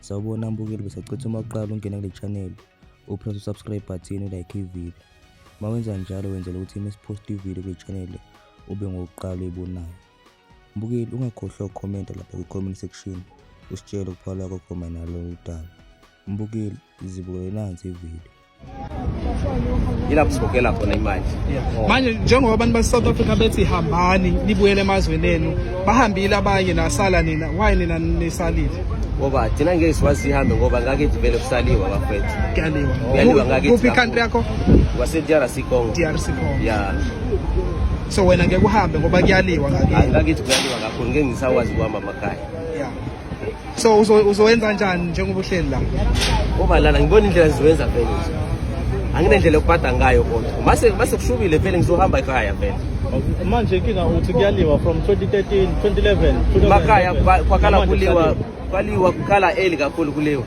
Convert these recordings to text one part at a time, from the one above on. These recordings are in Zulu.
sawubona mbukeli besacitha uma uqala ungena kule channel upress usubscribe button ulike ivideo uma wenza njalo wenzela ukuthi uma siposta ivideo kule channel ube ngokuqala uyibonayo mbukeli ungakhohlwa ukukhomenta lapha kwi-comment section usitshele ukuphawula kwakho mayinalo udaba mbukeli zibukele nansi ivideo ila kusikhokhela khona imali oh. manje njengoba abantu base-south africa bethi hambani nibuyele emazweni enu bahambile abanye nasala nina why nina nisalile ngoba thina ngeke siwazi sihambe ngoba ngake vele kusaliwa bafethu kuyaliwa kuyaliwa ngake kuphi icountry yakho wase-drc congo drc congo ya so wena ngeke uhambe ngoba kuyaliwa ngakithi ngakithi kuyaliwa kakhulu ngeke ngisakwazi kuhamba amakhaya So uzowenza njani njengoba uhleli la? Ngoba lana ngibona indlela ziwenza vele nje. Anginendlela yokubhada ngayo kodwa. Mase mase kushubile vele ngizohamba ekhaya vele. Manje inkinga uthi kuyaliwa from 2013, 2011, 2011. Makaya kwakala kuliwa kwaliwa kukhala eli kakhulu kuliwa.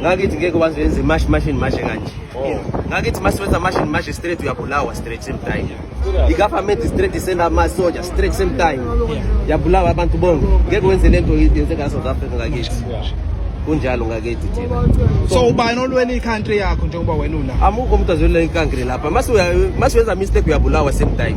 ngakithi ngeke waze wenze mash mashini mashe kanje oh. ngakithi masiwenza mashini mashe straight uyabulawa straight same time i-government straight isenda amasoja straight same time yabulawa abantu bonke ngeke wenze le nto yenzeka la south africa ngakithi kunjalo ngakithi thina so ubani olwela i-country yakho njengoba wena una amukho umuntu azwelela ikankri lapha masiwenza mistake uyabulawa same time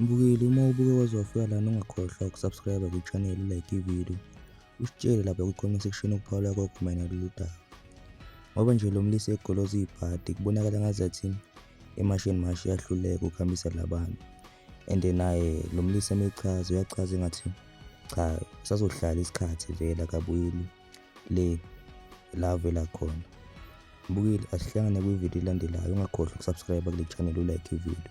Mbukeli uma ubuke waze wafika lana ungakhohlwa ukusubscribe kwichannel ulike ivideo usitshele lapha kwi-comment section ukuphawula kwakho mayelana lolu daba ngoba nje lo mlisa egoloza ibhadi kubonakala ngazathi emashini mashi yahluleka ukuhambisa labantu and naye lo mlisa emechaza uyachaza engathi cha usazohlala isikhathi vele akabuyeli le la avela khona mbukile asihlangane kwividiyo elandelayo ungakhohlwa ukusubscribe kule channel ulike ividiyo